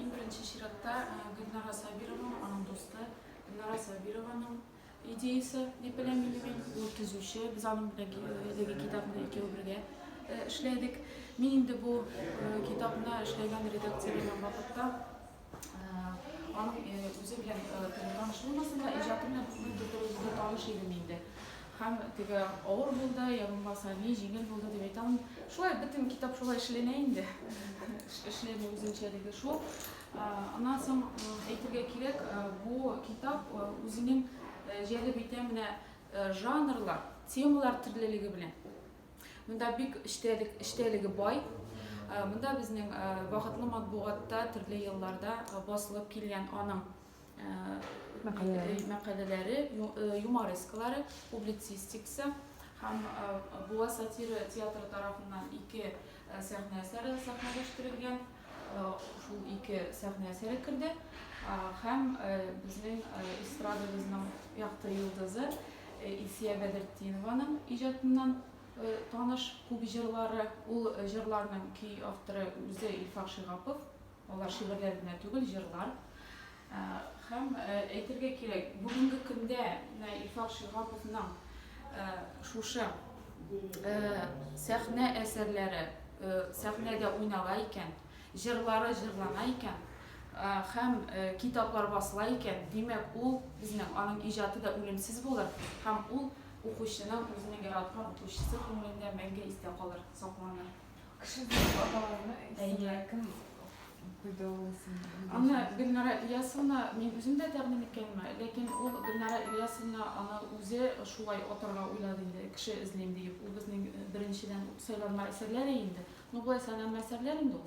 Иң беренче чиратта Гөлнара Сабированың, аның дусты Гөлнара Сабированың идеясы дип беләм инде мин. Ул төзүче, без аның белән әлеге китапны икәү бергә эшләдек. Мин инде бу китапны эшләгән редакцияләгән вакытта аның үзе белән таныш булмасам да, иҗаты белән күпмедер дәрәҗәдә таныш идем инде. Һәм теге авыр булды, я булмаса ни җиңел булды дип әйтә алмыйм. Шулай бөтен китап шулай эшләнә инде. Эшләнү үзенчәлеге шул. Аннан соң әйтергә кирәк, бу китап үзенең җәлеп итә менә жанрлар, темалар төрлелеге белән. Монда бик эчтәлек, эчтәлеге бай. Монда безнең Бәхетле матбугатта төрле елларда басылып килгән аның мәкаләләре, юморескалары, публицистикасы һәм Буа сатира театры тарафыннан ике сәхнә әсәре сәхнәләштерелгән. Шул ике сәхнә әсәре керде һәм безнең эстрадабызның якты йолдызы Илсия Бәдертдинованың иҗатыннан таныш күп җырлары, ул җырларның көй авторы үзе Илфак Шигапов. Алар шигырьләр генә түгел, җырлар. Һәм әйтергә кирәк, бүгенге көндә менә Илфак Шиһаповның шушы сәхнә әсәрләре сәхнәдә уйнала икән, җырлары җырлана икән, һәм китаплар басыла икән, димәк, ул безнең аның иҗаты да үлемсез булыр һәм ул укучының, үзенең яраткан укучысы күңелендә мәңге истә калыр, сакланыр. Кеше булып аталарны исемнәр кем куйды ул исемнәрне? Аны Гөлнара Ильясовна мин үзем дә тәкъдим иткәнмен, ләкин ул Гөлнара Ильясовна аны үзе шулай атарга уйлады инде, кеше эзлим диеп. Ул безнең беренчедән үк сайланма әсәрләре инде. Ну, болай сайланма әсәрләр инде ул.